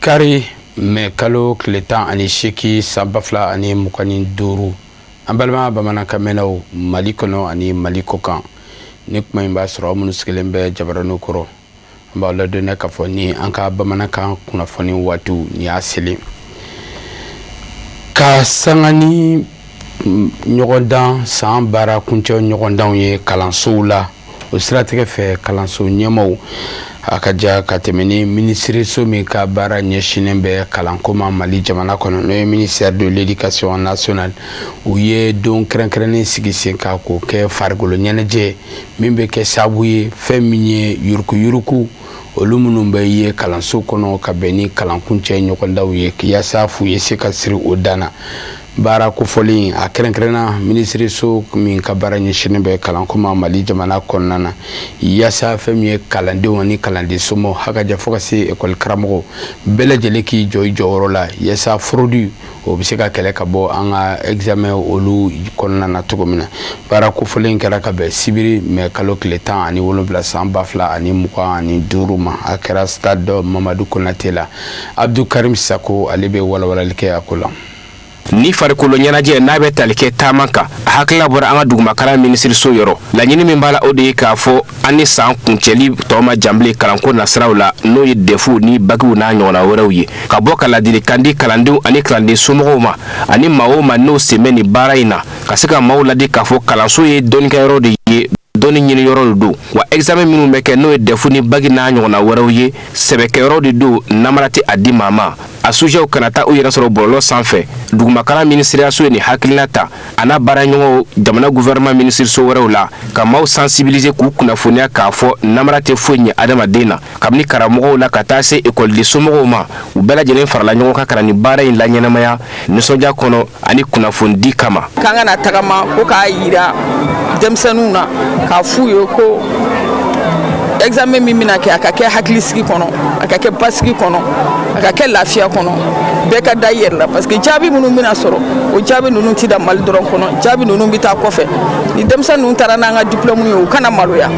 Kari mɛ kalo tile tan ani seegin san ba fila ani mugan ni duuru an balima bamanankanmɛnnaw mali kɔnɔ ani mali kɔ kan ni kuma in b'a sɔrɔ aw minnu sigilen bɛ jabaranin kɔrɔ an b'aw ladɔnniya k'a fɔ ni an ka bamanankan kunnafoni waati ni y'a selen ka sanni ɲɔgɔndan san baara kuncɛ ɲɔgɔndanw ye kalansow la o siratigɛ fɛ kalanso ɲɛmaaw a ka ja ka tɛmɛ ni minisiriso min ka baara ɲɛsinnen bɛ kalanko ma mali jamana kɔnɔ n'o ye ministère de l'éducation nationale u ye don kɛrɛnkɛrɛnnen sigi sen ka k'o kɛ farikolo ɲɛnajɛ min bɛ kɛ sababu ye fɛn min ye yurukuyuruku olu minnu bɛ ye kalanso kɔnɔ ka bɛn ni kalan kuncɛ ɲɔgɔndanw ye yaasa fu ye se ka siri o dan na baara kofɔlen in a kɛrɛnkɛrɛnna minisiriso min ka baara ɲɛsinnen bɛ kalanko ma mali jamana kɔnɔna na yaasa fɛn min ye kalandenw ni kalanden somɔgɔw a ka ja fo ka se ekɔli karamɔgɔw bɛɛ lajɛlen k'i jɔ i jɔyɔrɔ la yaasa fraude o bɛ se ka kɛlɛ ka bɔ an ka examen olu kɔnɔna na cogo min na baara kofɔlen in kɛra ka bɛn sibiri mɛ kalo tile tan ani wolonwula san ba fila ani mugan ani duuru ma a kɛra stade mamadu konatɛ la abudul karim sako ale bɛ walawalali kɛ a ko la nin farikolo ɲɛnajɛ n'a bɛ tali kɛ taama kan a hakilila bɔra an ka dugumakalan minisiriso yɔrɔ laɲini min b'a la o de ye k'a fɔ an ni san kuncɛli tɔ man jan bilen kalanko nasiraw la n'o ye dɛfuw ni bakiw n'a ɲɔgɔnna wɛrɛw ye ka bɔ ka ladilikan di kalandenw ani kalanden somɔgɔw ma ani maa o maa n'o sen bɛ nin baara in na ka se ka maaw ladi k'a fɔ kalanso ye dɔnnikɛyɔrɔ de ye dɔnni ɲini yɔrɔ de don wa examen minnu bɛ kɛ n'o ye dɛfu ni baki n'a ɲɔgɔnna wɛrɛw ye sɛbɛkɛyɔrɔ de don namara tɛ a di maa ma a sujɛw kana taa u yɛrɛ sɔrɔ bɔlɔlɔ sanfɛ dugumakalan minisiriyaso ye nin hakilina ta a n'a baaraɲɔgɔnw jamana gouvernement minisiriso wɛrɛw la ka maaw sensibiliser k'u kunnafoniya k'a fɔ namara tɛ foyi ɲɛ adamaden na kabini karamɔgɔw la ka taa se ekɔliden somɔgɔw ma u bɛɛ lajɛlen farala ɲɔgɔn kan ka na nin baara in laɲɛnamaya nisɔndiya kɔnɔ ani kunnafonidi kama k'an ka na tagama ko k'a jira denmisɛnninw na k'a f'u ye ko examen min bɛna kɛ a ka kɛ hakilisigi kɔnɔ a ka kɛ basigi kɔnɔ a ka kɛ lafiya kɔnɔ bɛɛ ka da i yɛrɛ la parce que jaabi minnu bɛna sɔrɔ o jaabi ninnu tɛ dan mali dɔrɔn kɔnɔ jaabi ninnu bɛ taa kɔfɛ ni denmisɛnnin ninnu taara n'an ka diplôme ye u kana maloya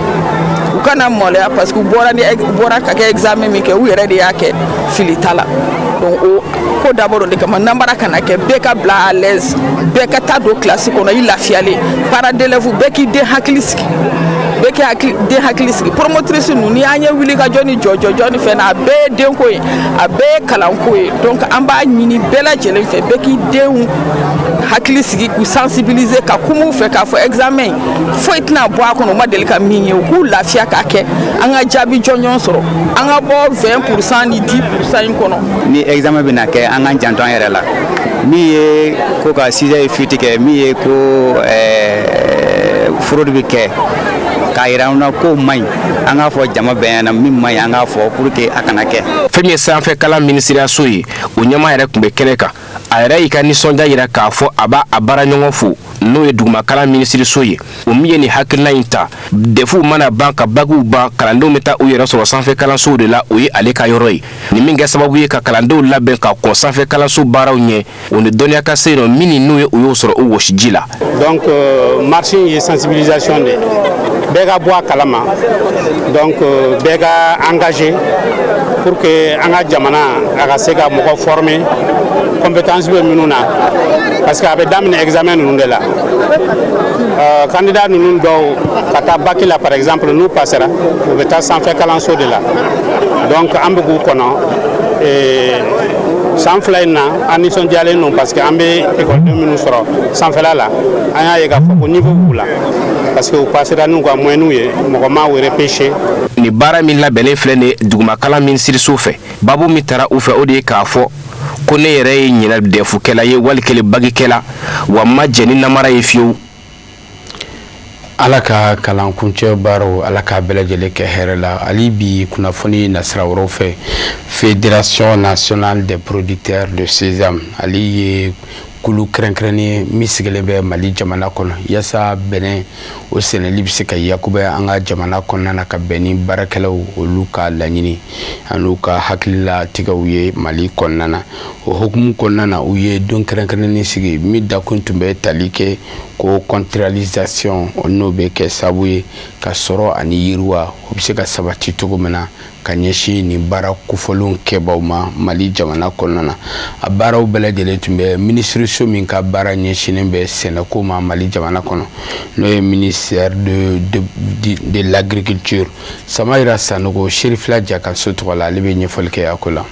u kana maloya parce que u bɔra ni bɔra ka kɛ examen min kɛ u yɛrɛ de y'a kɛ fili t'a la donc o ko dabɔ don de kama nanbara kana kɛ bɛɛ ka bila à l'aise bɛɛ ka taa don kilasi kɔnɔ i lafiyalen parents d'élèves bɛɛ k'i den hakili sigi bɛɛ k'i hakili den hakili sigi promotrice ninnu n'i y'an ye wuli ka jɔ ni jɔjɔjɔ ni fɛn na a bɛɛ ye denko ye a bɛɛ ye kalanko ye donc an b'a ɲini bɛɛ lajɛlen fɛ bɛɛ k'i denw hakili sigi k'u sensibiliser ka kum'u fɛ k'a fɔ examen in foyi tɛna bɔ a kɔnɔ u ma deli ka min ye u k'u lafiya k'a kɛ an ka jaabi jɔnjɔn sɔrɔ an ka bɔ 20 pourcent ni 10 pourcent in kɔnɔ ni examen bɛna kɛ an k'an janto an yɛrɛ la min ye ko ka sujet ye fuite kɛ min ye ko eh, fraude bɛ kɛ k'a yira an na k'o man ɲi an k'a fɔ jama bɛɛ ɲɛna min man ɲi an k'a fɔ pour que a kana kɛ fɛn min ye sanfɛ kalan minisiriyaso ye o ɲɛmaa yɛrɛ tun bɛ kɛnɛ kan a yɛrɛ y'i ka nisɔndiya yira k'a fɔ a b'a a baaraɲɔgɔn fo n'o ye dugumakalan minisiriso ye o min ye nin hakilina in ta dɛfuw mana ban ka bakiw ban kalandenw bɛ taa u yɛrɛ sɔrɔ sanfɛ kalansow de la o ye ale ka yɔrɔ ye ni min kɛ sababu ye ka kalandenw labɛn ka kɔn sanfɛ kalanso baaraw ɲɛ u ni dɔnniya ka se nɔ min ni n'u ye u y'o sɔrɔ u wɔsiji la donc euh, marche ye sensibilisation de bɛɛ ka bɔ a kalama donc euh, bɛɛ ka engagé pour que an ka jamana a ka se ka mɔgɔ former compétence bɛ minnu na parce que a bɛ daminɛ examen ninnu de la Euh, candidat ninnu dɔw ka taa baki la par exemple n'u passera u bɛ taa sanfɛ kalanso de la donc an bɛ k'u kɔnɔ eh, san fila in na an nisɔndiyalen don parce que an bɛ ekɔliden minnu sɔrɔ sanfɛla la an y'a ye k'a fɔ ko niveau b'u la parce que u pasera n'u ka moyɛnw ye mɔgɔ ma u repêcher nin baara min labɛnnen filɛ nin ye dugumakalan minisiriso fɛ babu min tara u fɛ o de ye k'a fɔ ko ne yɛrɛ ye ɲinan dɛfukɛla ye walikele bakikɛla wa n ma jɛn ni namara ye fiyewu Ala ka kalan kuncɛ baaraw ala k'a bɛɛ lajɛlen kɛ hɛrɛ la hali bi kunnafoni nasira wɛrɛw fɛ fédération nationale des producteurs de sésame ale ye kulu kɛrɛnkɛrɛnnen min sigilen bɛ mali jamana kɔnɔ walasa bɛnɛ o sɛnɛli bɛ se ka yakubaya an ka jamana kɔnɔna na ka bɛn ni baarakɛlaw olu ka laɲini ani u ka hakililatigɛw ye mali kɔnɔna na o hukumu kɔnɔna na u ye don kɛrɛnkɛrɛnnen sigi min dakun tun bɛ tali kɛ ko contractualisation n'o bɛ kɛ sababu ye ka sɔrɔ ani yiriwa o bɛ se ka sabati cogo min na ka ɲɛsin nin baara kofɔlen kɛbaw ma mali jamana kɔnɔna na a baaraw bɛɛ lajɛlen tun bɛ minisiriso min ka baara ɲɛsinnen bɛ sɛnɛkow ma mali jamana kɔnɔ n'o ye ministère de l'agriculture sama jirara sanɔgɔ seri fila ja ka so tɔgɔ la ale bɛ ɲɛfɔli kɛ a ko la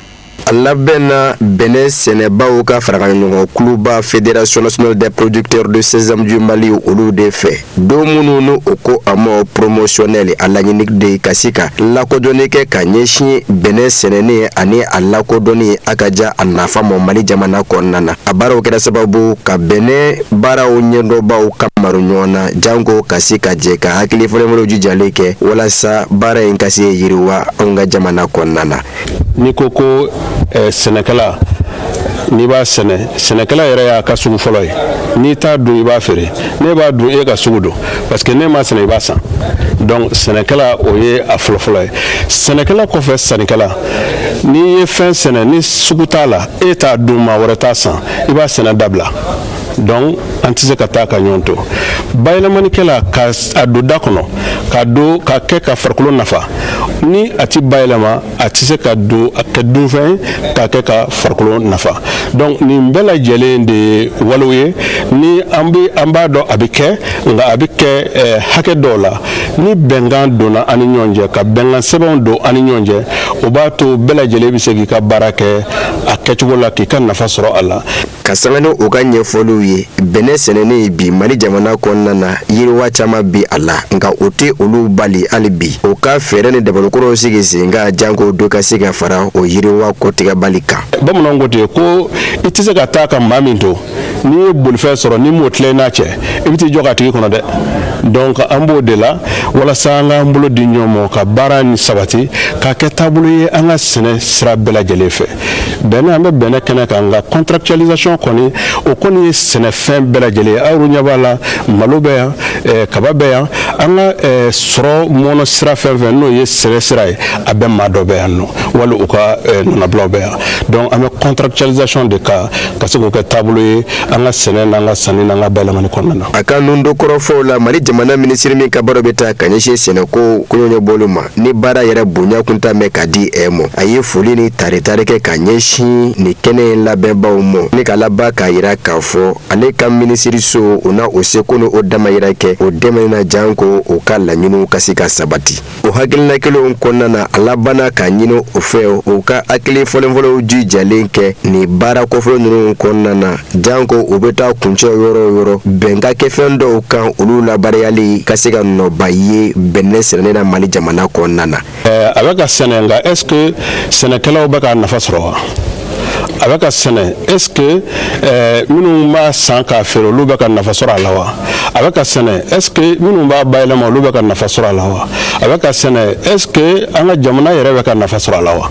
A labɛnna bɛnɛ sɛnɛbaw ka farakaɲɔgɔn kuluba fédération nationale des producteurs de sésame du mali olu de fɛ don minnu n'u ko a ma promotionnel a laɲini de ye ka se ka lakodɔnni kɛ ka ɲɛsin bɛnɛ sɛnɛni ani a lakodɔnni a ka jan a nafa ma mali jamana kɔnɔna na a baaraw kɛra sababu ka bɛnɛ baaraw ɲɛdɔnbaw ka mari ɲɔgɔn na janko ka se ka jɛ ka hakili falenfalenw jijalen kɛ walasa baara in ka se ka yiriwa an ka jamana kɔnɔna na n'i ko ko eh, sɛnɛkɛla n'i b'a sɛnɛ sɛnɛkɛla yɛrɛ y'a ka sugu fɔlɔ ye n'i t'a dun i b'a feere ne b'a dun e ka sugu don parce que ne m'a sɛnɛ i b'a san donc sɛnɛkɛla o ye a fɔlɔfɔlɔ ye sɛnɛkɛla kɔfɛ sannikɛla n'i ye fɛn sɛnɛ ni sugu t'a la e t'a dun maa wɛrɛ t'a san i b'a sɛnɛ dabila donc an tɛ se ka taa ka ɲɔgɔn to bayɛlɛmanikɛla ka a don da kɔnɔ ka don ka kɛ ka farikolo nafa ni a ti bayɛlɛma a tɛ se ka don a kɛ dunfɛn ka kɛ ka farikolo nafa donc nin bɛɛ lajɛlen de ye walew ye ni an bɛ an b'a dɔn a bɛ kɛ nka a bɛ kɛ eh, hakɛ dɔw la ni bɛnkan donna an ni ɲɔgɔn cɛ ka bɛnkan sɛbɛnw don an ni ɲɔgɔn cɛ o b'a to bɛɛ lajɛlen bɛ se k'i ka baara kɛ a kɛcogo la k'i ka nafa sɔrɔ a la ka sanga ni u ka ɲɛfɔliw ye bɛnɛ sɛnɛni ye bi mali jamana kɔnɔna na yiriwa caman bi a la nka o tɛ olu bali hali bi o ka fɛɛrɛ ni dabali kuraw sigi sen kan janko dɔ ka se ka fara o yiriwa kɔtigɛbali kan bamananw ko ten ko i tɛ se ka taa ka maa min to n'i ye bolifɛn sɔrɔ n'i m'o tila i n'a cɛ i bɛ t'i jɔ k'a tigi kɔnɔ dɛ donc an b'o de la walasa an k'an bolo di ɲɔgɔn ma ka baara nin sabati k'a kɛ taabolo ye an ka sɛnɛ sira bɛɛ lajɛlen fɛ bɛnɛ an bɛ bɛnɛ kɛnɛ kan nka contractualisation kɔni o kɔni ye sɛnɛfɛn bɛɛ lajɛlen ye aw ɲɛ b'a la malo bɛ yan eh, kaba bɛ yan an ka eh, sɔrɔ mɔnɔ sira fɛn fɛn n'o ye sɛnɛ sira ye a bɛɛ maa dɔ bɛ yan nɔ wali u ka eh, nɔnabulaw bɛ yan donc an bɛ contractualisation de kan ka se k'o kɛ taabolo ye an ka sɛnɛ n'an ka sanni n'an ka bayɛlɛmani kɔnɔna na. A ka nin don kɔrɔfɔw la Mali jamana minisiri min ka baaraw bɛ taa ka ɲɛsin sɛnɛko koɲɛ ɲɛnabɔli ma ni baara yɛrɛ bonya kunta mɛn ka di a ma a ye foli ni taritari kɛ ka ɲɛsin nin kɛnɛ in labɛnbaaw ma ni ka laban k'a jira k'a fɔ ale ka minisiriso o na o seko ni o damayira kɛ o dɛmɛ na janko o ka laɲiniw ka se ka sabati. o hakilina kelenw kɔnɔna na a labanna k'a ɲini o fɛ u ka hakili falenfalenw jijalen kɛ nin baara kofɔlen ninnu kɔnɔna na janko u bɛ taa kuncɛ yɔrɔ o yɔrɔ bɛn ka kɛ fɛn dɔw kan olu labaarayali ka se ka nɔba ye bɛnɛ sɛnɛni na mali jamana kɔnɔna na a bɛ ka sɛnɛ nka est-ce que sɛnɛkɛlaw bɛ ka nafa sɔrɔ wa a bɛ ka sɛnɛ est ce que eh, minnu b'a san k'a feere olu bɛ ka nafa sɔrɔ a la wa a bɛ ka sɛnɛ est ce que minnu b'a bayɛlɛma olu bɛ ka nafa sɔrɔ a la wa a bɛ ka sɛnɛ est ce que an ka jamana yɛrɛ bɛ ka nafa sɔrɔ a la wa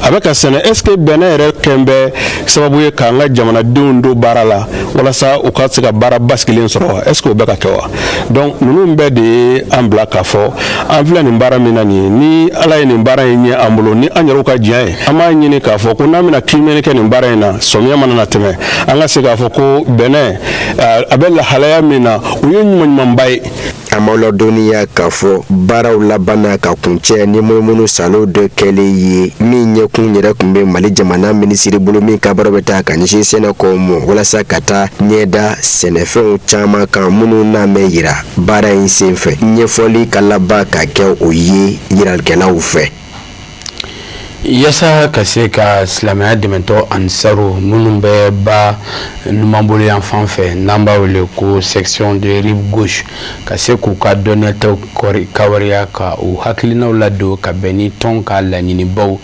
a bɛ ka sɛnɛ est ce que bɛnɛ yɛrɛ kɛlen bɛ sababu ye k'an ka jamanadenw don baara la walasa u ka se ka baara basigilen sɔrɔ wa est ce que o bɛ ka kɛ wa donc ninnu bɛɛ de ye an bila k'a fɔ an filɛ nin baara min na nin ye ni ala ye nin baara in ɲɛ an bolo ni an yɛrɛw ka jija ye an b'a ɲini k'a fɔ ko n'an bɛna kiimɛni kɛ nin baara in na sɔmiya mana na tɛmɛ an ka se k'a fɔ ko bɛnɛ a bɛ lahalaya min na o ye ɲumanɲumanba ye an b'aw ladɔnniya k'a fɔ baaraw labanna ka kuncɛ ni munumunu saalo dɔ kɛlen ye min ɲɛkun yɛrɛ tun bɛ mali jamana minisiri bolo min ka baara bɛ taa ka ɲɛsin sɛnɛkow ma walasa ka taa ɲɛ da sɛnɛfɛnw caman kan minnu n'a mɛn yira baara in senfɛ ɲɛfɔli ka laban ka kɛ o ye yiralikɛlaw fɛ yasa ka se ka silamɛya dɛmɛtɔn ansaru minnu bɛ ba numanbolo yan fan fɛ n'an b'a wele ko section de rive gauche ka se k'u ka dɔnniyataw kawariya ka u hakilinaw ladon ka bɛn ni tɔn ka laɲinibaw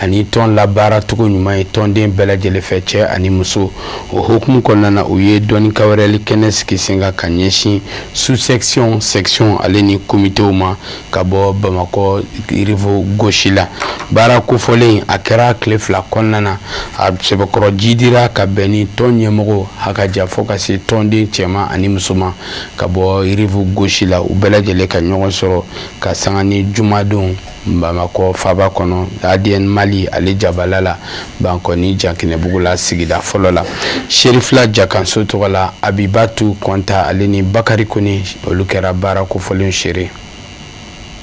ani tɔn labaara cogo ɲuman ye tɔnden bɛɛ lajɛlen fɛ cɛ ani muso o hukumu kɔnɔna na u ye dɔnni kawariyali kɛnɛ sigi sen kan ka ɲɛsin sous section section ale ni komitew ma ka bɔ bamakɔ rive gauche la baara kofɔlen a kɛra tile fila kɔnɔna na a sɛbɛkɔrɔ jidira ka bɛn ni tɔn ɲɛmɔgɔw ha ka jan fɔ ka se tɔnden cɛman ani musoman ka bɔ rive gauche la u bɛɛ lajɛlen ka ɲɔgɔn sɔrɔ ka sanga ni jumadenw Bamakɔ faba kɔnɔ adn mali ale jabala la bankɔni jankinɛbugu la sigida fɔlɔ la serifila jakanso tɔgɔ la abibatu kɔnta ale ni bakari kɔni olu kɛra baara kofɔlen seere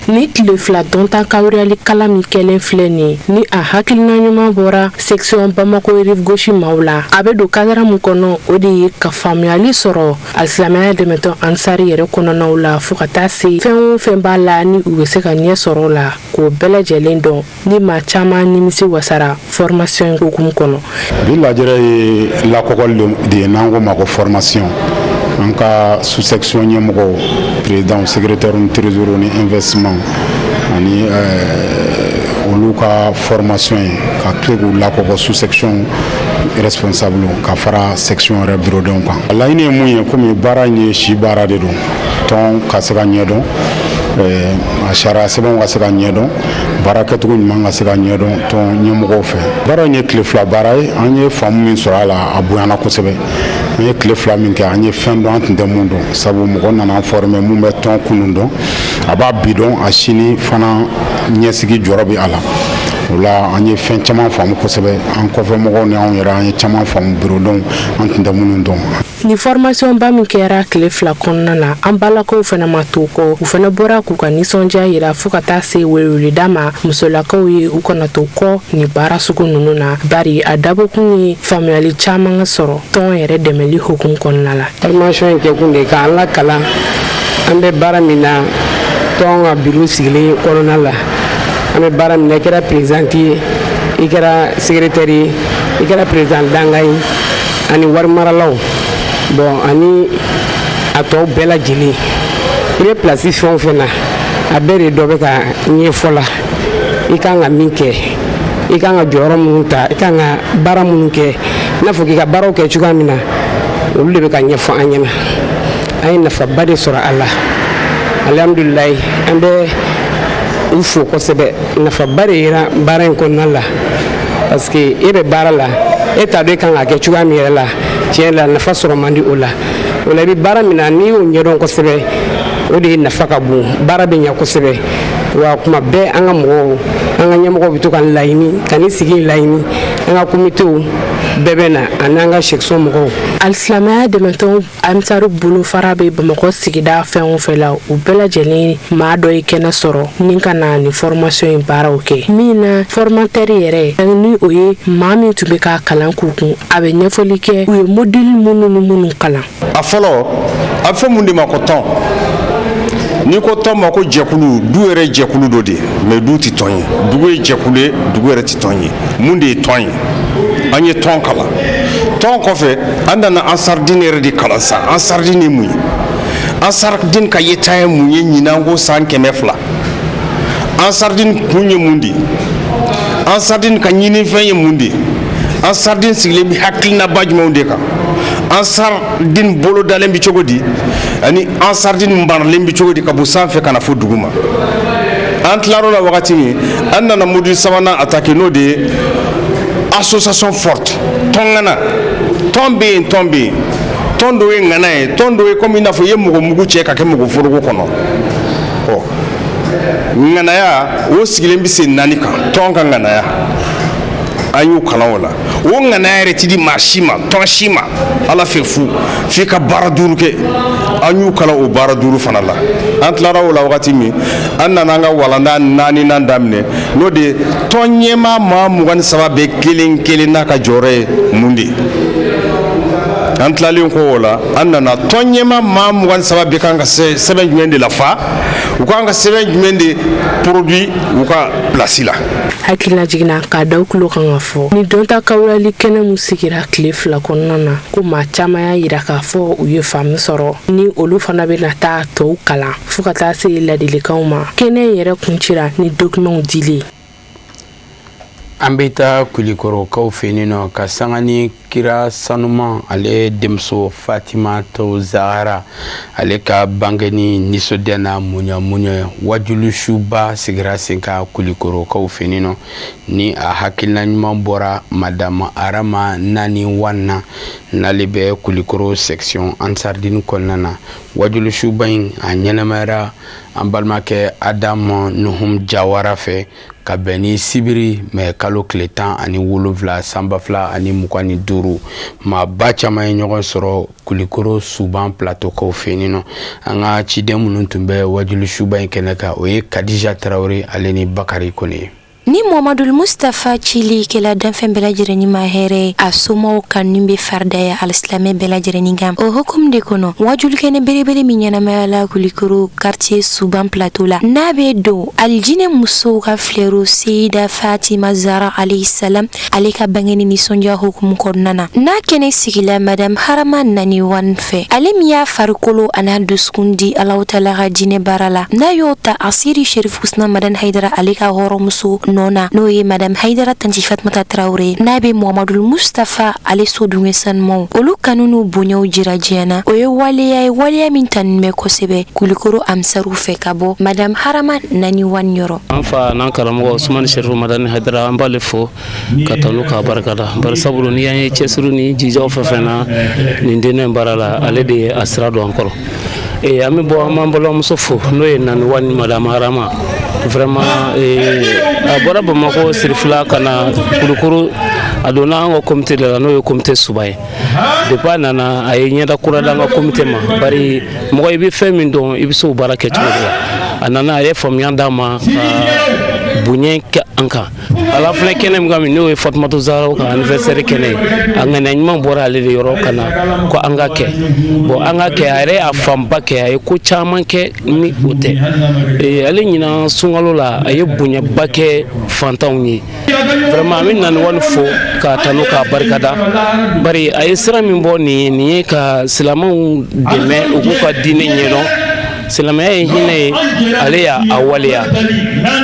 nin tile fila dɔnta kawariyali kalan min kɛlen filɛ nin ni a hakilina ɲuman bɔra section bamakɔ rive gauche maaw la a bɛ don kadara min kɔnɔ o de ye ka faamuyali sɔrɔ alisilamɛya dɛmɛtɔn ansari yɛrɛ kɔnɔnaw la fo ka taa se fɛn o fɛn b'a la ni u bɛ se ka ɲɛ sɔrɔ la k'o bɛɛ lajɛlen dɔn ni maa caman nimisi wasara fɔrmasiyɔn hukumu kɔnɔ bi lajɛrɛ ye lakɔgɔli de ye n'an k'o ma ko fɔrmasiyɔn an ka susɛkisiɔn ɲɛmɔgɔw perezidanw segeretɛriw ni terezoro ni ɛnvɛstisimanw ani olu ka fɔrmasiyɔn ye ka se k'u lakɔgɔ susɛkisiɔn responsable ka fara section yɛrɛ bureaudenw kan a laɲini ye mun ye komi baara in ye si baara de don tɔn ka se ka ɲɛdɔn eh, a sariya sɛbɛnw ka se ka ɲɛdɔn baara kɛcogo ɲuman ka se ka ɲɛdɔn tɔn ɲɛmɔgɔw fɛ baara in ye tile fila baara ye an ye faamu min sɔrɔ a la a bonyana kosɛbɛ an ye tile fila min kɛ an ye fɛn dɔn an tun tɛ min dɔn sabu mɔgɔ nana fɔrɔmɛ min bɛ tɔn kunun dɔn a b'a bi dɔn a sini fana ɲɛsigi jɔrɔ bɛ a la O la an ye fɛn caman faamu kosɛbɛ an kɔfɛ mɔgɔw ni anw yɛrɛ an ye caman faamu bureaudenw an tun tɛ minnu dɔn Ni fɔrɔmasiɔnba min kɛra tile fila kɔnɔna na an balakaw fana ma to kɔ u fana bɔra k'u ka nisɔndiya jira fo ka taa se weleweleda ma musolakaw ye u kana to kɔ ni baara sugu ninnu na bari a dabɔkun ye faamuyali caman ka sɔrɔ tɔn yɛrɛ dɛmɛli hukumu kɔnɔna la fɔrɔmasiɔn in kɛkun de k'an lakalan an bɛ baara min na tɔn ka biro sigilen kɔnɔna la an bɛ baara min na i kɛra perezidan ye i kɛra segeretɛri ye i kɛra perezidan dankan ye ani warimaralaw bɔn ani a tɔw bɛɛ lajɛlen i bɛ plasi fɛn o fɛn na a bɛɛ de dɔ bɛ ka ɲɛfɔ la i ka kan ka min kɛ i ka kan ka jɔyɔrɔ minnu ta i ka kan ka baara minnu kɛ i n'a fɔ k'i ka baaraw kɛ cogoya min na olu de bɛ ka ɲɛfɔ an ɲɛna an ye nafaba de sɔrɔ a la alihamdulilayi an bɛ u fo kosɛbɛ nafaba de yera baara in kɔnɔna la parce que e bɛ baara la e t'a dɔn i ka kan k'a kɛ cogoya min yɛrɛ la tiɲɛ la nafa sɔrɔ man di o la o la i bɛ baara min na n'i y'o ɲɛdɔn kosɛbɛ o de ye nafa ka bon baara bɛ ɲɛ kosɛbɛ wa kuma bɛɛ an ka mɔgɔw an ka ɲɛmɔgɔw bɛ to ka nin laɲini ka nin sigi laɲini an ka komitew bɛɛ bɛ na ani an ka section mɔgɔw alisilamɛya dɛmɛtɔn ansaru bolofara bɛ bamakɔ sigida fɛn o fɛn na u bɛɛ lajɛlen maa dɔ ye kɛnɛ sɔrɔ ni ka na ni fɔrɔmasɔn in baaraw kɛ min na fɔrɔmatɛri yɛrɛ ani ni o ye maa min tun bɛ ka kalan k'u kun a bɛ ɲɛfɔli kɛ u ye modili minnu ni minnu kalan a fɔlɔ a bɛ fɔ mun de ma ko tɔn n'i ko tɔn maa ko jɛkulu du yɛrɛ jɛkulu dɔ de mɛ du tɛ tɔn ye dugu ye jɛkulu ye dugu yɛrɛ tɛ tɔn ye mun de ye tɔn ye an ye tɔn kalan tɔn kɔfɛ an nana ansaridini yɛrɛ de kalan sa ansaridini ye mun ye ansaridini ka yeta ye mun ye ɲinan kɔ san kɛmɛ fila ansaridini kun ye mun de ye ansaridini ka ɲininfɛn ye mun de ye ansaridini sigilen bɛ hakilinaba jumɛnw de kan ansaridini bolodalen bɛ cogo di ani ansaridini maralen bɛ cogo di ka bɔ sanfɛ ka na fo duguma an tilar'o la wagati min an nana modili sabanan atake n'o de ye association forte tɔn ŋana tɔn bɛ yen tɔn bɛ yen tɔn dɔ ye ŋana ye tɔn dɔ ye komi i n'a fɔ i ye mɔgɔ mugu cɛ k'a kɛ mɔgɔ foroko kɔnɔ ɔ ŋanaya o sigilen bɛ sen naani kan tɔn ka ŋanaya an y'u kalan o la o ŋanaya yɛrɛ tɛ di maa si ma tɔn si ma ala fɛ fu f'i ka baara duuru kɛ an y'u kalan o baara duuru fana la an tilara o la wagati min an nana an ka walanda naaninan daminɛ n'o de ye tɔn ɲɛmaa maa mugan ni saba bɛɛ kelen kelenna ka jɔyɔrɔ ye mun de ye an tilalen ko o la an nana tɔn ɲɛmaa maa mugan ni saba bɛɛ kan ka sɛbɛn jumɛn de lafa u kan ka sɛbɛn jumɛn de produit u ka pilasi la hakililajigin na k'a da u tulo kan ka fɔ ni dɔnta kawulali kɛnɛ min sigira tile fila kɔnɔna na ko maa caman y'a yira k'a fɔ u ye faamu sɔrɔ ni olu fana bɛna taa tɔw kalan fɔɔ ka taa se ladilikanw ma kɛnɛ in yɛrɛ kuncɛra ni documentw dili ye an bɛ taa kulikɔrɔkaw fɛ yen nɔ ka sanga ni kira sanuman ale denmuso fatimatu zahara ale ka bangeni nisɔndiya na muɲamuɲa ye wajulu suba sigira sen kan kulikɔrɔkaw fɛ yen nɔ ni a hakilina ɲuman bɔra madame arama nani wan na n'ale bɛ kulikoro section ansardini kɔnɔna na Wajuli suba in a ɲɛnamayara an balimakɛ adama nuhun jawara fɛ ka bɛn ni sibiri mɛ kalo tile tan ani wolonwula sanba fila ani mugan ni duuru maaba caman ye ɲɔgɔn sɔrɔ kulikoro suban plateaukaw fɛ yen nɔ an ka ciden minnu tun bɛ wajuli suba in kɛnɛ kan o ye kadija tarawele ale ni bakarijan kɔni ye Ni Mohamadu Mustafa cili kɛla danfɛn bɛɛ lajɛlennin ma hɛrɛ ye, a somɔgɔw kanuni bɛ faridaya alisilamɛ bɛɛ lajɛlen kan. O hukumu de kɔnɔ, wajulikɛnɛ belebele min ɲɛnamayala Kulikoro quartier Suban plateau la, n'a bɛ don alijinɛ musow ka fleur Seyida Fatima Zara alayhi salam ale ka bangeni nisɔndiya hukumu kɔnɔna na n'a kɛnɛ sigila madame harama nani wan fɛ ale min y'a farikolo an'a dusukun di alahu taala ka diinɛ baara la n'a y'o ta aseyidi sherifu usumani madani haidara ale ka hɔrɔnmuso nɔ na n'o ye madame haidara tanti fatumata tarawure n'a bɛ mohamadul mustafa ale so dunge sanumanw olu kanu n'u bonyaw jira diɲɛ na o ye waleya ye waleya min tanunen bɛ kosɛbɛ kulikoro ansaru fɛ ka bɔ madame harama nani wan yɔrɔ An fa n'an karamɔgɔ usumani sherifu madani haidara an b'ale fo k'a tanu k'a barika da bari sabu ni an ye cɛsiri ni jija fɛn fɛn na nin diinɛ in baara la ale de ye a sira don an kɔrɔ ee an bɛ bɔ an'an balimamuso fo n'o ye nani wan madame arama vraiment a bɔra bamakɔ sherifula ka na kulikoro a donna an ka komite la n'o ye komite suban ye depuis a nana a ye ɲɛda kura da an ka komite ma bari mɔgɔ i bɛ fɛn min dɔn i bɛ se o baara kɛ cogo de la a nana a ye faamuya d'an ma ka bonya kɛ an kan an filɛ kɛnɛ min kan nin n'o ye fatumata zara ka anniversaire kɛnɛ ye a ŋaniya ɲuman bɔra ale de yɔrɔ ka na ko an k'a kɛ bon an k'a kɛ a yɛrɛ y'a fanba kɛ a ye ko caman kɛ ni o tɛ ale ɲinan sunkalo la a ye bonyaba kɛ fantanw ye vraiment an bɛ nani wani fo k'a tanu k'a barikada bari a ye sira min bɔ nin ye nin ye ka silamɛw dɛmɛ u k'u ka diinɛ ɲɛdɔn silamɛya ye hinɛ ye ale y'a waleya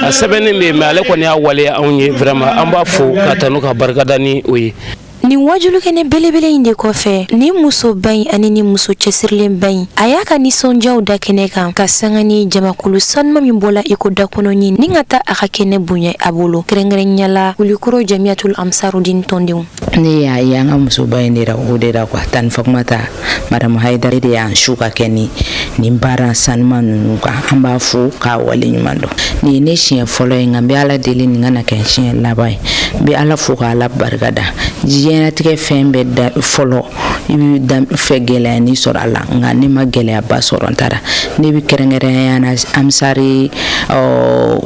a sɛbɛnnen bɛ yen mɛ ale kɔni y'a waleya anw ye vraiment an b'a fo k'a tanu k'a barikada ni o ye Nin waajulikɛnɛ belebele in de kɔfɛ nin musoba in ani nin muso cɛsirilenba in a y'a ka nisɔndiyaw da kɛnɛ kan ka sanga ni jamakulu sanuma min bɔra iko da kɔnɔ ɲɛ ni ka taa a ka kɛnɛ bonya a bolo kɛrɛnkɛrɛnnenya la kulikoro jamiyatul ansarudin tɔndenw ne y'a ye an ka musoba in de o de la k ka taa ni fɔma ta madamu hayidara de y'an su ka kɛ ni nin baara sanuma ninnu kan an b'a fo k'a wale ɲuman dɔn nin ye ne siɲɛ fɔlɔ ye nka n bɛ ala deli nin kana kɛ siɲɛ laban ye n bɛ ala fo ka ala barika da diɲɛnatigɛ fɛn bɛɛ da fɔlɔ i bɛ da fɛ gɛlɛyanin sɔrɔ a la nka ne ma gɛlɛyaba sɔrɔ n taara ne bɛ kɛrɛnkɛrɛnnenya na ansari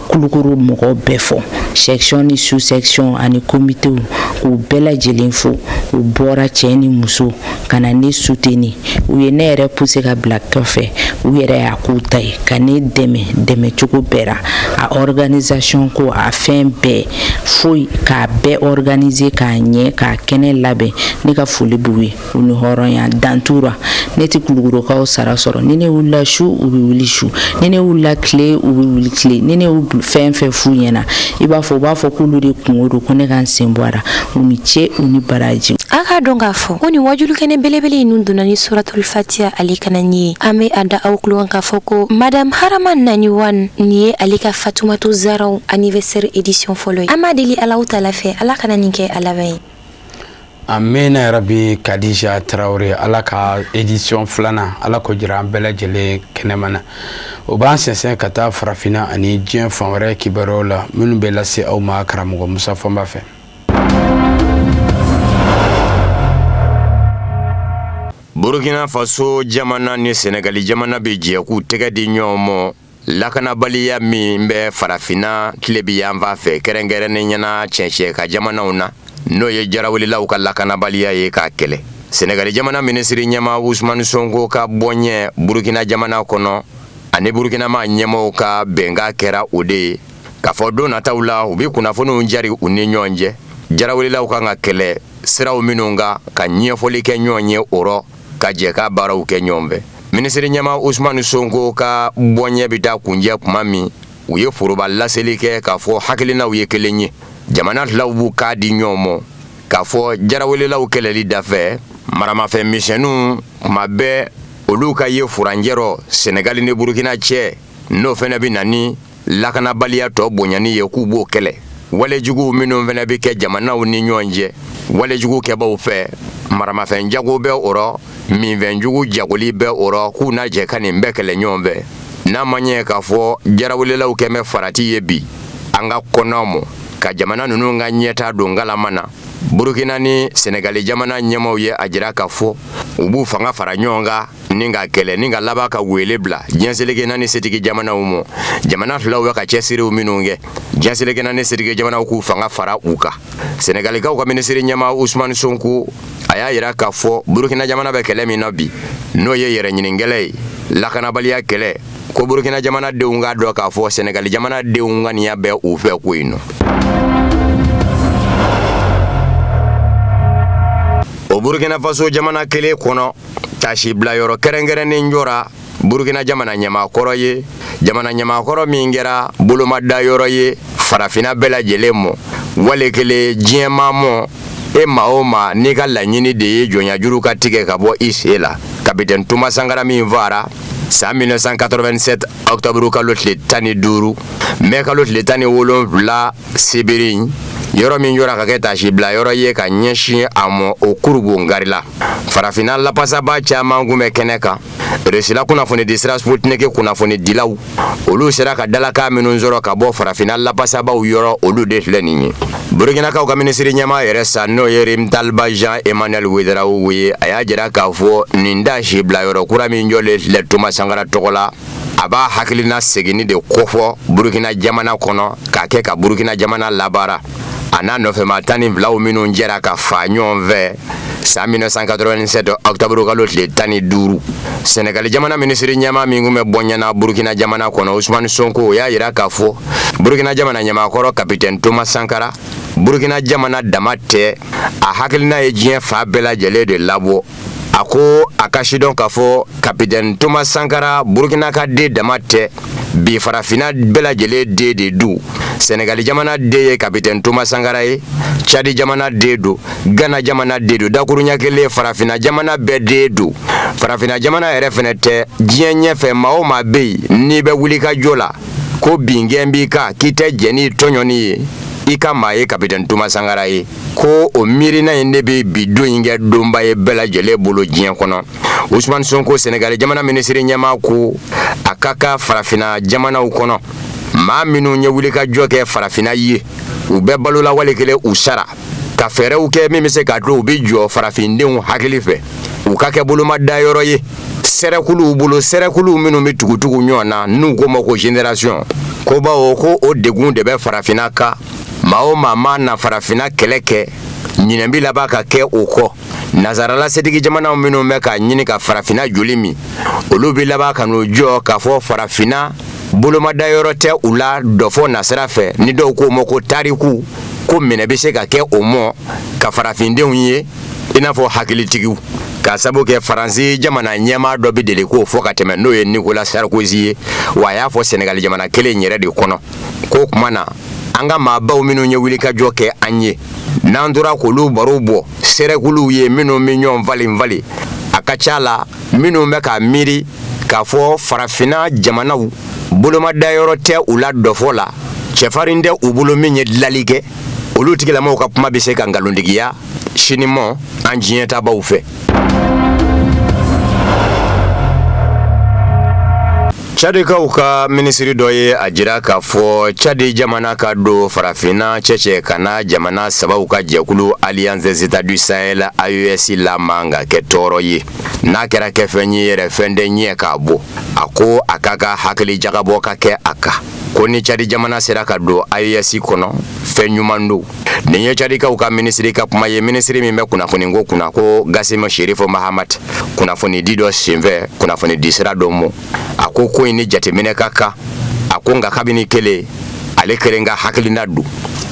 kulukoro mɔgɔw bɛɛ fo section ni sous section ani komitew k'u bɛɛ lajɛlen fo u bɔra cɛ ni muso ka na ne suteni u ye ne yɛrɛ puse ka bila kɔfɛ u yɛrɛ y'a k'u ta ye ka ne dɛmɛ dɛmɛ cogo bɛɛ ra a organisation ko a fɛn bɛɛ foyi k'a bɛɛ organise k'a ɲɛ k'a kɛnɛ labɛn ne ka foli b'u ye u ni hɔrɔnya dantura ne tɛ kulukorokaw sara sɔrɔ ni ne wulila su u bɛ wuli su ni ne wulila tile u bɛ wuli tile ni ne fɛn fɛn f'u ɲɛna i b'a fɔ u b'a fɔ k'olu de kunko don ko ne ka n sen bɔ a ra u ni ce u ni baraji a k'a dɔn k'a fɔ ko nin waajuli kɛnɛ belebele in ninnu donna ni suratul fatiya le kalanni ye an bɛ a da aw tulo kan k'a fɔ ko madame harama nani wan nin ye ale ka fatumatu zaraw anniversaire édition fɔlɔ ye an b'a deli alahu taala fɛ ala kana nin kɛ a laban ye a mɛnna yɛrɛ bi kadija tarawele ala ka edisiyɔn filanan ala k'o jira an bɛɛ lajɛlen kɛnɛma na o b'an sɛnsɛn ka taa farafinna ani diɲɛ fan wɛrɛ kibaruyaw la minnu bɛ lase aw ma karamɔgɔ musa fɔnba fɛ Burukina faso jamana ni sɛnɛgali jamana bɛ jɛ k'u tɛgɛ di ɲɔgɔn ma lakanabaliya min bɛ farafinna tilebi yanfan fɛ kɛrɛnkɛrɛnnenya na cɛncɛ kan jamanaw na n'o ye jarawelelaw ka lakanabaliya ye k'a kɛlɛ sɛnɛgali jamana minisiri ɲɛmaa usman sonko ka bɔnyɛ burukina jamana kɔnɔ ani burukinama ɲɛmɔgɔ ka bɛnkan kɛra o de ye K'a fɔ don nataw la u bɛ kunnafoniw jari u ni ɲɔgɔn cɛ jarawelelaw kan ka kɛlɛ siraw minnu kan ka ɲɛfɔli kɛ ɲɔgɔn ye o rɔ ka jɛ ka baaraw kɛ ɲɔgɔn fɛ minisiri ɲɛmaa usmani sɔnko ka bɔnyɛ bɛ taa kuncɛ tuma min u ye foroba laseli kɛ k'a fɔ hakilinaw ye kelen ye jamana filaw b'u kan di ɲɔgɔn ma k'a fɔ jarawelelaw kɛlɛli dafɛ maramafɛn misɛnninw tuma bɛɛ olu ka ye furancɛ rɔ sɛnɛgali ni burukina cɛ n'o fana bɛ na lakanabaliya tɔgɔ bonyani ye k'u b'o kɛlɛ walejuguw minnu fana bɛ kɛ jamanaw ni ɲɔgɔn cɛ walejugu kɛbaaw fɛ maramafɛn jago bɛ o rɔ minfɛnjugu jagoli bɛ o rɔ k'u na jɛ ka nin bɛɛ kɛlɛ ɲɔgɔn fɛ n'a ma ɲɛ k'a fɔ jarawelelaw kɛn bɛ farati ye bi an ka kɔnɔw mɔ ka jamana ninnu ka ɲɛtaa don galama na burukina ni sɛnɛgali jamana ɲɛmaw ye a jira k'a fɔ u b'u fanga fara ɲɔgɔn kan ni ka kɛlɛ nin ka laban ka wele bila diɲɛ seleke naani setigi jamanaw ma jamana filaw bɛ ka cɛsiriw minnu kɛ diɲɛ seleke naani setigi jamanaw k'u fanga fara u kan senegalikaw ka minisiri ɲɛma usumani sonko a y'a yira k'a fɔ burukina jamana bɛ kɛlɛ min na bi n'o ye yɛrɛ ɲini kɛlɛ ye lakanabaliya kɛlɛ ko burukina jamana denw k'a dɔn k'a fɔ senegali jamana denw ŋaniya bɛ u fɛ ko in nɔ o burkina faso jamana kelen kɔnɔ taasibila yɔrɔ kɛrɛnkɛrɛnnen jɔra burukina jamana ɲɛmakɔrɔ ye jamana ɲɛmakɔrɔ min kɛra bolomada yɔrɔ ye farafinna bɛɛ lajɛlen mɔ wale kelen diɲɛ maa mɔ e maa o maa n'i ka laɲini de ye jɔnyajuru ka tigɛ ka bɔ i sen la kapitɛn toma sankara min faara san 1987 ɔkutɔburu kalo tile tan ni duuru mɛ kalo tile tan ni wolonfila sibiri yɔrɔ min jɔra ka kɛ taasibila yɔrɔ ye ka ɲɛsin a mɔ o kurunbonkarila farafinna lapasabaa caman kun bɛ kɛnɛ kan risila kunnafonidi sira sputniki kunnafonidilaw olu sera ka dalakan minnu sɔrɔ ka bɔ farafinna lapasabaaw yɔrɔ olu de filɛ nin ye burukinakaw ka minisiri ɲɛma yɛrɛ sa n'o ye rimtalba jean emmanuel wedarawo ye a y'a jira k'a fɔ nin taasibila yɔrɔ kura min jɔlen filɛ toma sankara tɔgɔ la a b'a hakilina seginni de kofɔ burukina jamana kɔnɔ k'a kɛ ka burukina jamana labaara a n'a nɔfɛma tan ni filaw minnu jɛra ka faa ɲɔgɔn fɛ san 1987 octobre kalo tile tan ni duuru sɛnɛgali jamana minisiri ɲɛma min kun bɛ bɔɲɛ na burukina jamana kɔnɔ usumani sonko o y'a yira k'a fɔ burukina jamana ɲɛmakɔrɔ kapitɛni toma sankara burukina jamana dama tɛ a hakilina ye diɲɛ fan bɛɛ lajɛlen de labɔ a ko a k'a sidɔn k'a fɔ kapitɛni toma sankara burukina ka den dama tɛ bi farafina bɛɛ lajɛlen den de don sɛnɛgali jamana den ye kapitɛni toma sankara ye cadi jamana den don gana jamana den don dakuruɲɛ kelen farafina jamana bɛɛ den don farafina jamana yɛrɛ fɛnɛ tɛ diɲɛ ɲɛfɛ maa o maa bɛ yen n'i bɛ wulikajɔ la ko bingɛn b'i kan k'i tɛ jɛn n'i tɔɲɔni ye i ka maa ye kapitɛni toma sankara ye ko o miirina in de bɛ bi don in kɛ donba ye bɛɛ lajɛlen bolo diɲɛ kɔnɔ usumani sonko senegali jamana minisiri ɲɛmaa ko a ka kan farafinna jamanaw kɔnɔ maa minnu ye wulikajɔ kɛ farafinna ye u bɛ balo la wali kelen u sara ka fɛɛrɛw kɛ min bɛ se k'a to u bɛ jɔ farafindenw hakili fɛ u ka kɛ bolomadayɔrɔ ye sɛrɛkuluw bolo sɛrɛkuluw minnu bɛ tugutugu ɲɔgɔn na n'u k'o ma ko generation ko bawo ko o degun de bɛ farafinna kan maa o maa mana farafinna kɛlɛ kɛ ɲinɛ bɛ laban ka kɛ o kɔ nazarala setigi jamanaw minnu bɛ k'a ɲini ka farafinna joli min olu bɛ laban ka n'u jɔ k'a fɔ farafinna bolomadayɔrɔ tɛ u la dɔfɔ nasira fɛ ni dɔw k'o ma ko tariku ko minɛ bɛ se ka kɛ o mɔ ka farafindenw ye i n'a fɔ hakilitigiw k'a sabu kɛ faransi jamana ɲɛmaa dɔ bɛ deli k'o fɔ ka tɛmɛ n'o ye nikola sarkozy ye wa a y'a fɔ sɛnɛgali jamana kelen yɛrɛ de kɔnɔ k'o tuma na an ka maabaw minnu ye wulikajɔ kɛ an ye n'an tora k'olu barow bɔ sɛrɛkuluw ye minnu bɛ ɲɔgɔn falen falen a ka ca la minnu bɛ k'a miiri k'a fɔ farafinna jamanaw bolomadayɔrɔ tɛ u la dɔfɔ la cɛfarin tɛ u bolo min ye dilali kɛ olu tigilamaw ka kuma bɛ se ka nkalontigiya sinimɔ an diɲɛtaabaw fɛ Cadikaw ka minisiri dɔ ye a jira k'a fɔ cadi jamana ka don farafinna cɛncɛn kanna jamana sabaw ka jɛkulu alliance des états du sahel AES la man ka kɛ tɔɔrɔ ye n'a kɛra kɛ fɛn ye yɛrɛ fɛn de ɲɛ k'a bɔ a ko a ka kan hakili jagabɔ ka kɛ a kan ko ni cadi jamana sera ka don AES kɔnɔ fɛn ɲuman don Nin ye cadikaw ka minisiri ka kuma ye minisiri min bɛ kunnafoni ko kunna ko gasime sherifu mahamate kunnafoni di dɔ senfɛ kunnafoni di sira dɔ ma a ko ko in ni jateminɛ ka kan a ko nka kabini kelen ale kelen ka hakilina don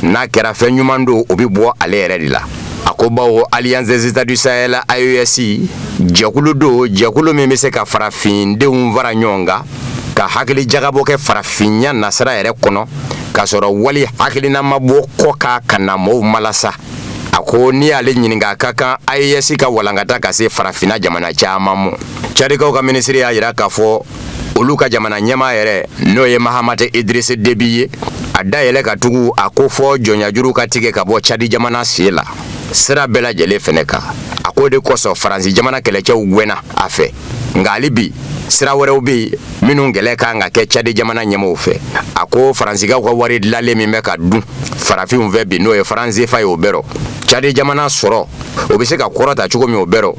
n'a kɛra fɛn ɲuman don o bɛ bɔ ale yɛrɛ de la a ko baw alliance des états du sahel AES jɛkulu don jɛkulu min bɛ se ka farafindenw fara ɲɔgɔn kan ka hakili jagabɔ kɛ farafinya nasira yɛrɛ kɔnɔ k'a sɔrɔ wali hakilina ma bɔ kɔkan ka na mɔɔw malasa a ko n'i y'ale ɲininka a ka kan AES ka walankata ka se farafinna jamana caman mɔ cadikaw ka minisiri y'a jira k'a fɔ olu ka jamana ɲɛmaa yɛrɛ n'o ye mahamate idirisi debi ye a da yɛlɛ ka tugu a ko fɔ jɔnyajuru ka tigɛ ka bɔ cadi jamana sen la sira bɛɛ lajɛlen fɛnɛ kan a k'o de kosɔn faransi jamana kɛlɛcɛw gwɛnna a fɛ nka hali bi sira wɛrɛw bɛ yen minnu kɛlɛ ka kan ka kɛ cadi jamana ɲɛmaaw fɛ a ko faransigaw ka wari dilanlen min bɛ ka dun farafinw fɛ bi n'o ye faransefa ye o bɛ rɔ cadi jamana sɔrɔ o bɛ se ka kɔrɔta cogo min o bɛ rɔ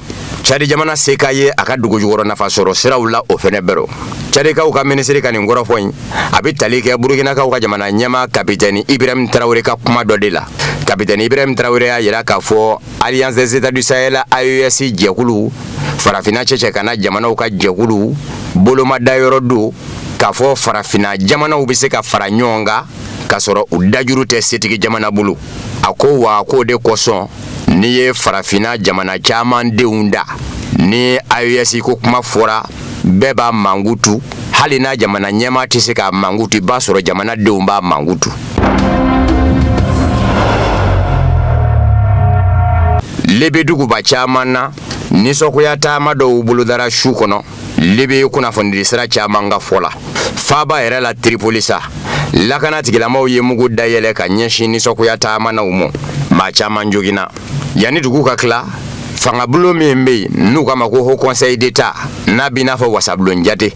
cadi jamana se ka ye a ka dugujukɔrɔ nafa sɔrɔ siraw la o fɛnɛ bɛ rɔ cadikaw ka minisiri ka nin kɔrɔfɔ in a bɛ tali kɛ burukinakaw ka jamana ɲɛmaa kapitɛni ibrahim tarawele ka kuma dɔ de la kapitɛni ibrahim tarawele y'a jira k'a fɔ Alliance des États du Sahel AES jɛkulu farafinna cɛncɛnkanna jamanaw ka jɛkulu bolomada yɔrɔ don k'a fɔ farafinna jamanaw bɛ se ka fara ɲɔgɔn kan k'a sɔrɔ u dajuru tɛ setigi jamana bolo a ko wa k'o de kosɔn n'i ye farafinna jamana caman denw da ni AES ko kuma fɔra bɛɛ b'a mankutu hali n'a jamana ɲɛmaa tɛ se k'a mankutu i b'a sɔrɔ jamanadenw b'a mankutu libi duguba caman na nisɔngoya taama dɔw bolodara su kɔnɔ libi yen kunnafonidi sira caman ka fɔ la faaba yɛrɛ la tiripoli sa lakana tigilamaw ye mugu dayɛlɛ ka ɲɛsin nisɔngoya taamanaw ma maa caman joginna yanni dugu ka tila fangabulon min bɛ yen n'u k'a ma ko haut conseil d'état n'a b'i n'a fɔ wasabulon jate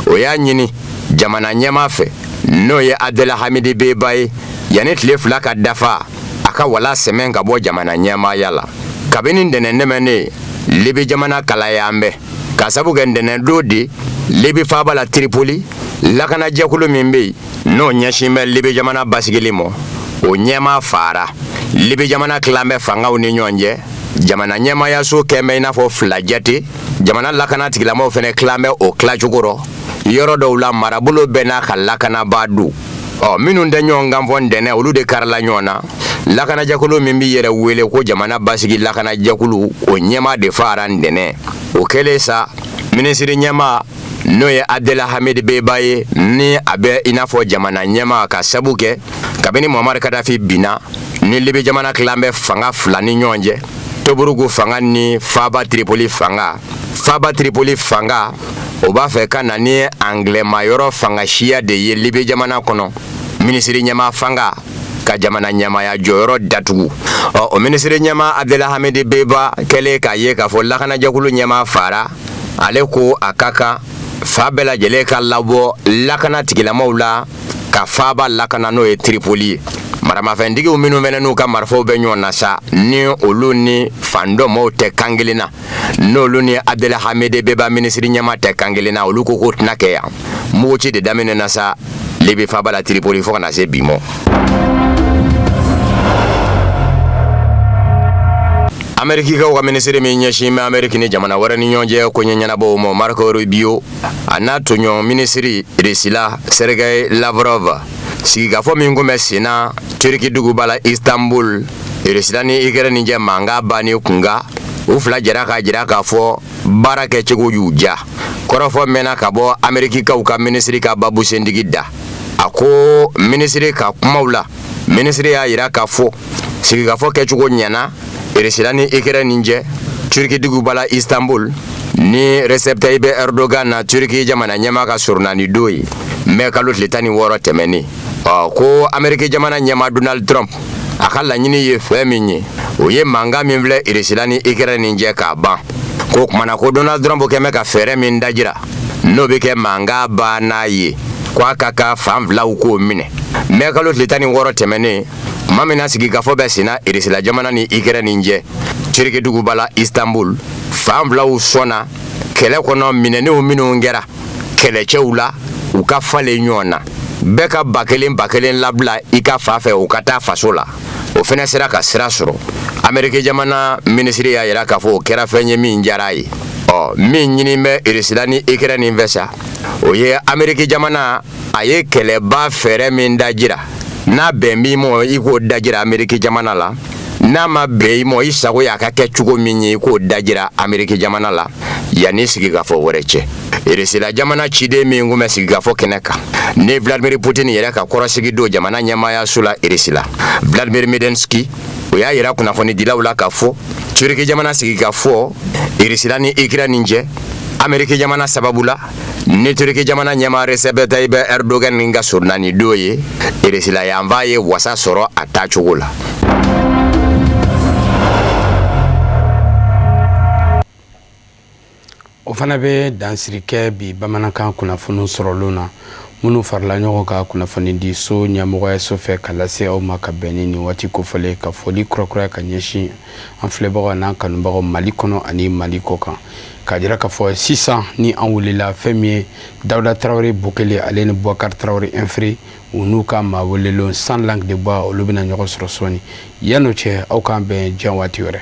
o y'a ɲini jamana ɲɛmaa fɛ n'o ye abdela hamidi beba ye yanni tile fila ka dafa a ka walan sɛmɛ ka bɔ jamana ɲɛmaaya la kabini ntɛnɛn tɛmɛnen libi jamana kalayalen bɛ k'a sabu kɛ ntɛnɛn don de libi faaba la tiripoli lakanajɛkulu min bɛ yen n'o ɲɛsin bɛ libi jamana basigili ma o ɲɛmaa faara libi jamana tilalen bɛ fangaw ni ɲɔgɔn cɛ jamana ɲɛmaayaso kɛlen bɛ i n'a fɔ fila jate jamana lakana tigilamaw fɛnɛ tilalen bɛ o tilacogo rɔ yɔrɔ dɔw la marabolo bɛɛ n'a ka lakanabaa don ɔ minnu tɛ ɲɔgɔn kan fɔ ntɛnɛn olu de karila ɲɔgɔn na lakanajɛkulu min b'i yɛrɛ wele ko jamana basigi lakanajɛkulu o ɲɛmaa de faara ntɛnɛn o kɛlen sa minisiri ɲɛmaa n'o ye abdela hamid beba ye ni a bɛ i n'a fɔ jamana ɲɛmaa k'a sabu kɛ kabini muhamari kadafi binna ni libi jamana tilalen bɛ fanga fila ni ɲɔgɔn cɛ toburuku fanga ni faaba tripoli fanga faaba tripoli fanga o b'a fɛ ka na ni anglɛmayɔrɔ fanga siya de ye libi jamana kɔnɔ minisiri ɲɛmaa fanga ka jamana ɲɛmaaya jɔyɔrɔ datugu ɔ o minisiri ɲɛmaa abdela hamidi beba kɛlen k'a ye k'a fɔ lakanajɛkulu ɲɛmaa faara ale ko a ka kan fan bɛɛ lajɛlen ka labɔ lakana tigilamaw la ka faaba lakana n'o ye tiripoli ye maramafɛntigiw minnu fɛnɛ n'u ka marifaw bɛ ɲɔgɔn na sa ni olu ni fan dɔ maaw tɛ kan kelen na n'olu ni abdel hamid dbeiba minisiri ɲɛmaa tɛ kan kelen na olu ko k'o tɛna kɛ yan muguci de daminɛna sa libi faba la tiripoli fo ka na se bi ma amerikikaw ka minisiri min ɲɛsin bɛ ameriki ni jamana wɛrɛ ni ɲɔgɔn cɛ koɲɛ ɲɛnabɔw ma marco rubio a n'a tɔɲɔgɔn minisiri irisila sergei lavrov sigikafɔ min kun bɛ sen na turiki duguba la istanbul irisila ni ikɛrɛni cɛ mankan banni kunkan u fila jɛra k'a jira k'a fɔ baara kɛcogo y'u diya kɔrɔfɔ mɛnna ka bɔ amerikikaw ka minisiri ka babu sentigi da a ko minisiri ka kumaw la minisiri y'a jira k'a fɔ sigikafɔ kɛcogo ɲɛna Irisila ni ikɛrɛni cɛ turiki duguba la istanbul ni recep tayyip erdogan na turiki jamana ɲɛmaa ka soronadon ye mɛ kalo tile tan ni wɔɔrɔ tɛmɛnen ɔ ko ameriki jamana ɲɛmaa donald trump a ka laɲini ye fɛn min ye o ye mankan min filɛ irisila ni ikɛrɛni cɛ k'a ban ko o tuma na ko donald trump kun bɛ ka fɛɛrɛ min dajira n'o bɛ kɛ mankan bannan ye ko a ka kan fan filaw k'o minɛ mɛ kalo tile tan ni wɔɔrɔ tɛmɛnen tuma min na sigikafɔ bɛ senna irisila jamana ni ikɛrɛni cɛ turiki duguba la istanbul fan filaw sɔnna kɛlɛ kɔnɔ minɛnenw minnu kɛra kɛlɛcɛw la u ka falen ɲɔgɔn na bɛɛ ka ba kelen ba kelen labila i ka fan fɛ u ka taa faso la o fana sera ka sira sɔrɔ ameriki jamana minisiri y'a yira k'a fɔ o kɛra fɛn ye min diyara a ye ɔ min ɲini bɛ irisila ni ikɛrɛni fɛ sa o ye ameriki jamana a ye kɛlɛban fɛɛrɛ min dajira n'a bɛnn'i ma i k'o dajira ameriki jamana la n'a ma bɛn i ma i sago y'a ka kɛ cogo min ye i k'o dajira ameriki jamana la yanni sigikafɔ wɛrɛ cɛ irisila jamana ciden min kun bɛ sigikafɔ kɛnɛ kan ni vladimir putin yɛrɛ ka kɔrɔsigi don jamana ɲɛmaayaso la irisila vladimir medinski o y'a yira kunnafonidilaw la k'a fɔ turiki jamana sigikafɔ irisila ni ikɛrɛni cɛ ameriki jamana sababu la Ni turiki jamana ɲɛmaa recep tayyip erdogan nin ka soronadon ye irisila yanfan ye wasa sɔrɔ a tacogo la o fana bɛ dansiri kɛ bi bamanankan kunnafoni sɔrɔlen na minnu farala ɲɔgɔn kan kunnafonidiso ɲɛmɔgɔyaso fɛ ka lase aw ma ka bɛn ni nin waati kofɔlen ka foli kurakuraya ka ɲɛsin an filɛbagaw n'an kanubagaw mali kɔnɔ ani mali kɔ kan k'a jira k'a fɔ sisan ni an wulila fɛn min ye dawuda tarawele bo kelen ale ni bɔkari tarawele infiri u n'u ka maa welelen sans langue de bois olu bɛna ɲɔgɔn sɔrɔ sɔɔni yan'o cɛ aw k'an bɛn diɲɛ waati wɛrɛ